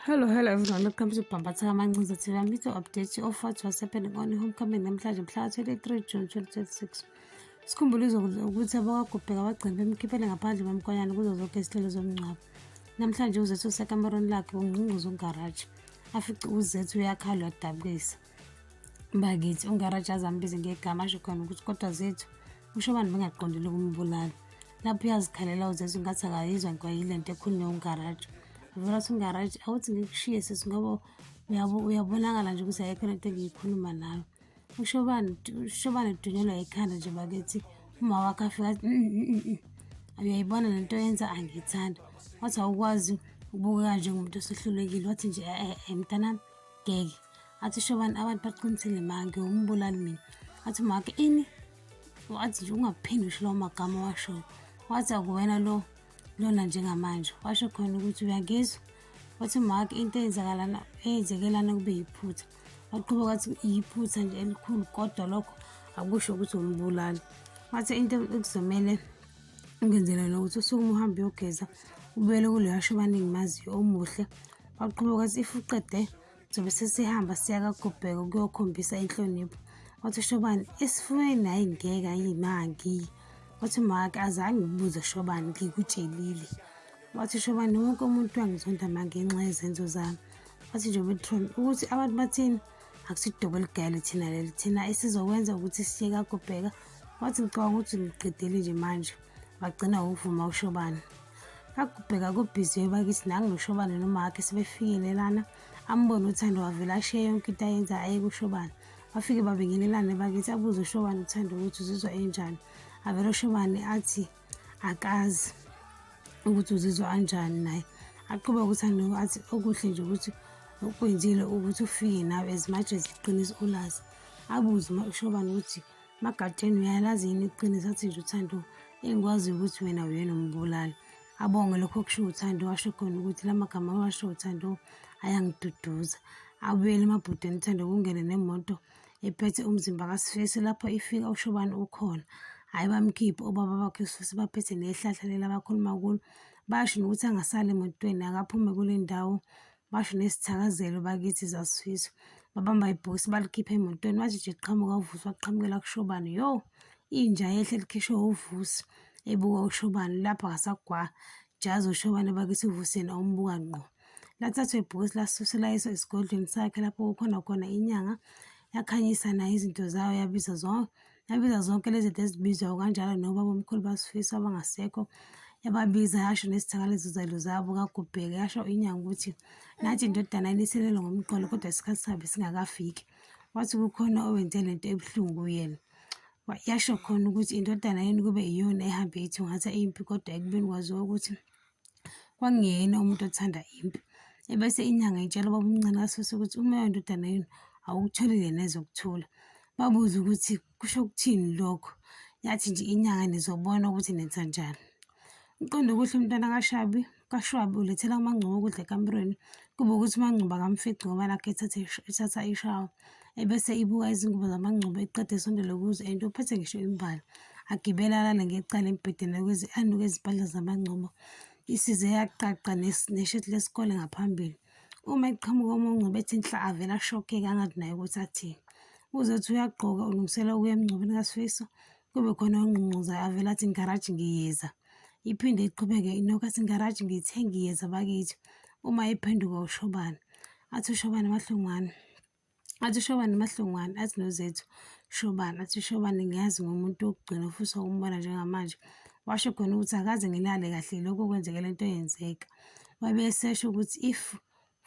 Hello, hello everyone. Welcome to Pambatha Mancinza TV. I'm here to update you of what was happening on homecoming namhlanje mhla 23 June 2026. Sikhumbule ukuthi abakagubheka abagcini bemkhiphele ngaphandle kwemkwanyana kuzo zonke izihlelo zomngcwabo. Namhlanje uzethu usekamerweni lakhe ungqungquza ungaraji. Afice uzethu uyakhala wadabukisa. bakithi ungaraja azambize ngegama asho khona ukuthi kodwa zethu usho abantu bengaqondile ukumbulala lapho uyazikhalela uzezwa ingathi akayizwa nkwayile nto ekhulunywe ungaraja vela ukuthi ungaraja awuthi ngikushiye sisi ngoba uyabonakala nje ukuthi ayekho lento engiyikhuluma nayo ushobani ushobani udunyelwa yikhanda nje bakithi uma wakho afika mm, mm, mm, uyayibona le nto yenza angiyithandi wathi awukwazi ukubukeka njengomuntu osehlulekile wathi nje eh, eh, eh, mntanami ngeke athi usho bani abantu baqinisile ma ngiwumbulali mina athi make ini wathi nje ungaphinde usho lawo magama washoyo wathi akuwena lo lona njengamanje washo khona ukuthi uyangizwa wathi make into eyenzakalana eyenzekelana kube yiphutha waqhuba kwathi yiphutha nje elikhulu kodwa lokho akusho ukuthi umbulali wathi into ekuzomele ungenzela nokuthi usuke uma uhambe uyogeza ubuyele kuleyo asho abaningi maziyo omuhle waqhuba kwathi if uqede Zobe sesihamba siya kaGubheka ukuyokhombisa inhlonipho. Wathi uShobane, esifubeni hhayi ngeke ayi mangi. Wathi umake azange ngibuze uShobane ngikutshelile. Wathi uShobane wonke umuntu wangizonda mangenxa yezenzo zami. Wathi nje uBetron ukuthi abantu bathini akusidobo eligayele thina leli thina esizokwenza ukuthi siye kaGubheka. Wathi ngicabanga ukuthi ngiqedile nje manje. Wagcina ngokuvuma uShobane. akubheka kubhizi yobakithi nangiloshobane nomakhe sebefikelelana ambone uthando wavele ashiye yonke into ayenza aye kushobane bafike babingelelane bakithi abuze ushobane uthando ukuthi uzizwa enjani avele ushobane athi akazi ukuthi uzizwa anjani naye aqhubeka ukuthi andoko athi okuhle nje ukuthi okwenzile ukuthi ufike nawe as much as iqiniso ulazi abuze ushobane ukuthi Magatsheni uyalazi yini iqiniso athi nje uthando engikwazi ukuthi wena uyena umbulali abonge lokho okusho uthando washo khona ukuthi la magama awasho uthando ayangiduduza abuyele emabhudeni uthando kungene nemoto ephethe umzimba kasifesi lapho ifika ushobani ukhona hhayi bamkhiphe obaba bakhe sifesi baphethe nehlahla lela bakhuluma kulo basho nokuthi angasali emotweni akaphume kule ndawo basho nesithakazelo bakithi zasifiso babamba ibhokisi balikhipha emotweni wathi nje qhamuka uvusi waqhamukela kushobane yo inja yehle likhishwe uvusi ebuka ushobane lapho ngasagwa jazi ushobane bakithi uvusi yena umbuka ngqo lathathwa ibhokisi lasusela iso esigodlweni sakhe lapho kukhona khona inyanga yakhanyisa nayo izinto zayo yabiza zonke yabiza zonke lezi zinto ezibizwayo kanjalo nobaba omkhulu basifiso abangasekho yababiza yasho nezithakalezo zalo zabo kagubheke yasho inyanga ukuthi nathi indodana iniselelo ngomqolo kodwa isikhathi sabe singakafiki wathi kukhona owenze le nto ebuhlungu kuyena yasho khona ukuthi indodana yini kube iyona ehambe ithungatha impi kodwa ekubeni kwaziwa ukuthi Kwakungeyena umuntu othanda impi. Ebese inyanga itshela ubaba omncane kaSusa ukuthi umoya wendodana yenu awukutholile neze ukuthula. Babuze ukuthi kusho ukuthini lokho. Yathi nje inyanga nizobona ukuthi nenza njani. Uqonde ukuthi umntwana kaShabi kaShwabi ulethela uMangcubo ukudla ekamerweni kube ukuthi uMangcubo akamfici ngoba nakhu ethatha ethatha ishawa. ebese ibuka izingubo zamangcubo eqeda esondele kuzo ento uphethe ngisho imbala agibele alale ngecala embhedeni anuke izimpahla zamangcubo isize yaqaqa nesheti lesikole ngaphambili uma eqhamuka omongcubo ethi nhla avele ashokeke angathi naye ukuthi athini uzothi uyagqoka ulungisela ukuya emngcwabeni kasifiso kube khona ongqungquzayo avele athi ngigaraji ngiyeza iphinde iqhubeke inoku athi ngigaraji ngithe ngiyeza bakithi uma ephenduka ushobane athi ushobane mahlungwane athi ushobane mahlongwane athi nozethu shobane athi ushobane ngiyazi ngomuntu wokugcina ofisa ukumbona njengamanje washo khona ukuthi akaze ngilale kahle lokho kwenzeke le nto yenzeka wabe esesho ukuthi if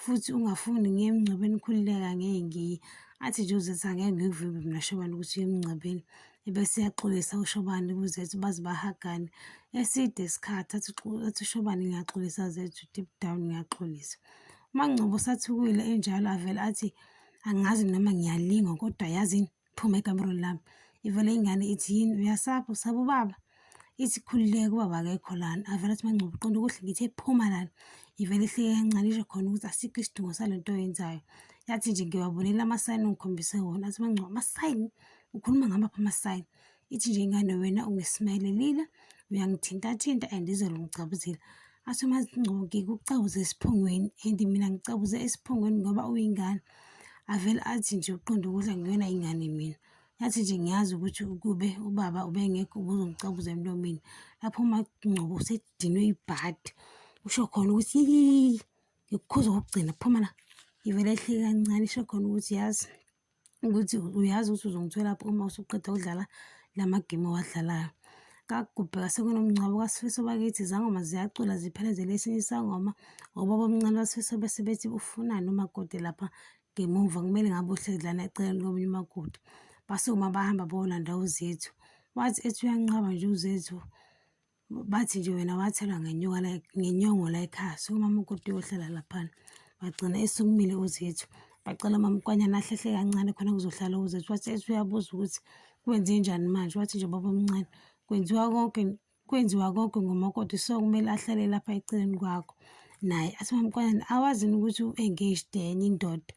futhi ungafuni ngiye emngcwabeni ukhululeka ngeke ngiye athi nje uzethi angeke ngikuvimbe mina shobane ukuthi uye emngcwabeni ebese uyaxolisa ushobane kuzethu baze bahagane eside isikhathi athi ushobane ngiyaxolisa zethu deep down ngiyaxolisa UMaNgcobo usathukile enjalo avele athi angazi noma ngiyalinga kodwa yazini phuma ekamerweni lami ivele ingane ithi yini uyasapha usaba ubaba ithi khululeke ubaba akekho lana avele athi maNgcobo qonda ukuthi ngithe phuma lana ivele ihleke kancane isho khona ukuthi asikho isidingo sale nto oyenzayo yathi nje ngibabonela amasayini ongikhombise wona athi maNgcobo amasayini ukhuluma ngamaphi amasayini ithi nje ingane wena ungismayelelile uyangithintathinta and izolo ngicabuzile asho mazingcoki kucabuze esiphongweni and mina ngicabuze esiphongweni ngoba uyingane avele athi nje uqonda ukudla nguyona ingane mina yathi nje ngiyazi ukuthi ukube ubaba ubengekho ubuzongicabuza emlomeni lapho umagcobo usedinwe ibhadi usho khona ukuthi yiyii ngikukhuza kokugcina phuma la ivele ehleke kancane isho khona ukuthi yazi ukuthi uyazi ukuthi uzongitholaphi uma usuqeda ukudlala la magemu owadlalayo kakugubheka sekunomngcwabo kasifiso bakithi izangoma ziyacula ziphelezele esinye isangoma obaba omncane basifiso bese bethi ufunani umakoti lapha ngemuva kumele ngabe uhlezi lana eceleni komunye umakoti basukuma bahamba bawolanda uzethu wathi ethi uyanqaba nje uzethu Bathi nje wena wathelwa ngenyoka la ngenyongo la ekhaya, so umama uGuti uyohlala laphana. Wagcina esukumile uZethu, bacela umama uKwanyana ahlehle kancane khona kuzohlala uZethu. Wathi ethi uyabuza ukuthi kwenzenjani manje, wathi nje baba omncane kwenziwa konke kwenziwa konke ngumakoti so kumele ahlale lapha eceleni kwakho naye athi mamkwanyana awazini ukuthi u-engaged enye indoda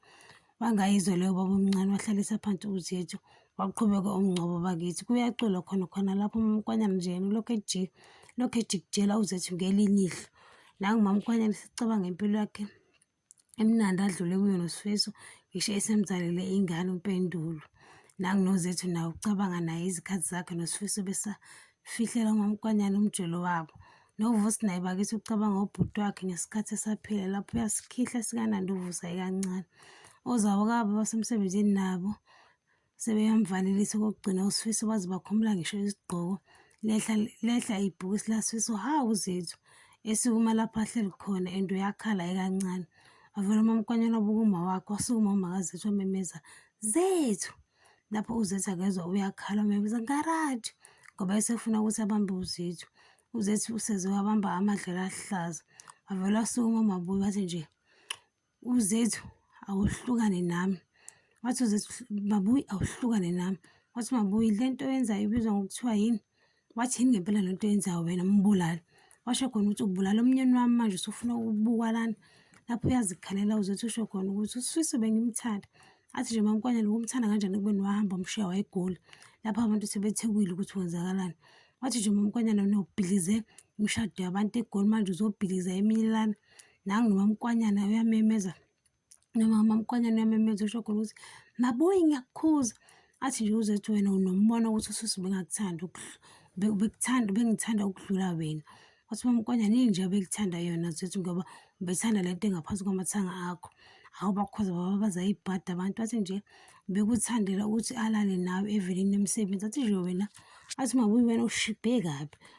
Bangayizwa leyo baba omncane wahlalisa phansi uZethu waqhubeka umngcwabo bakithi kuyaculwa khona khona lapho umamkwanyana nje yena ulokhu ejika lokhu ejikijela uZethu ngelinye ihlo nangumamkwanyana sicabanga impilo yakhe emnandi adlule kuyo nosifiso ngisho esemzalele ingane umpendulo nangunozethu nawo ucabanga naye izikhathi zakhe nosifiso besafihlela umamkwanyana umjolo wabo Novusi naye bakithi ucabanga ubhuti wakhe ngesikhathi esaphila lapho uyasikhihla sikanandi uvusa ikancane ozawo kabo basemsebenzini nabo sebeyamvalelisa okokugcina usifiso baze bakhumula ngisho isigqoko lehla lehla ibhukisi lasifiso hawu zethu esukuma lapho ahleli khona ento yakhala ekancane avele umamkwanyana obukuma wakhe wasukuma umakazethu wamemeza zethu lapho uzethu akezwa uyakhala umebiza ngaraji ngoba esefuna ukuthi abambe uzethu uzethu useze wabamba amadlela ahlaza wavele wasukuma umabuyi wathi nje uzethu awuhlukane nami wathi uzethu mabuyi awuhlukane nami wathi mabuyi le nto yenzayo ibizwa ngokuthiwa yini Wathini ngempela le nto yenzayo wena mbulali? Washo khona ukuthi ubulala umnyeni wami manje usufuna ukubukwa lana. Lapho uyazikhalela uzothi usho khona ukuthi uSifiso bengimthanda. Athi nje mamkwanyana ukumthanda kanjani ekubeni wahamba umshiya wayegoli. Lapho abantu sebethekile ukuthi kwenzakalani. Wathi nje mamkwanyana wena ubhilize imishado yabantu egoli manje uzobhiliza eminye lana. Nangu nomamkwanyana uyamemeza nomama mkwanyana uyamemeza usho khona ukuthi mabuyi ngiyakukhuza athi nje uzothi wena unombono ukuthi ususi bengakuthanda ubekuthanda ubengithanda ukudlula wena wathi mamkwanyana yini nje abekuthanda yona zothi ngoba ubethanda le nto engaphansi kwamathanga akho hawu bakhoza baba bazayibhada abantu athi nje bekuthandela ukuthi alale nawe evelini emsebenzi athi nje wena athi mabuyi wena ushibhe kabi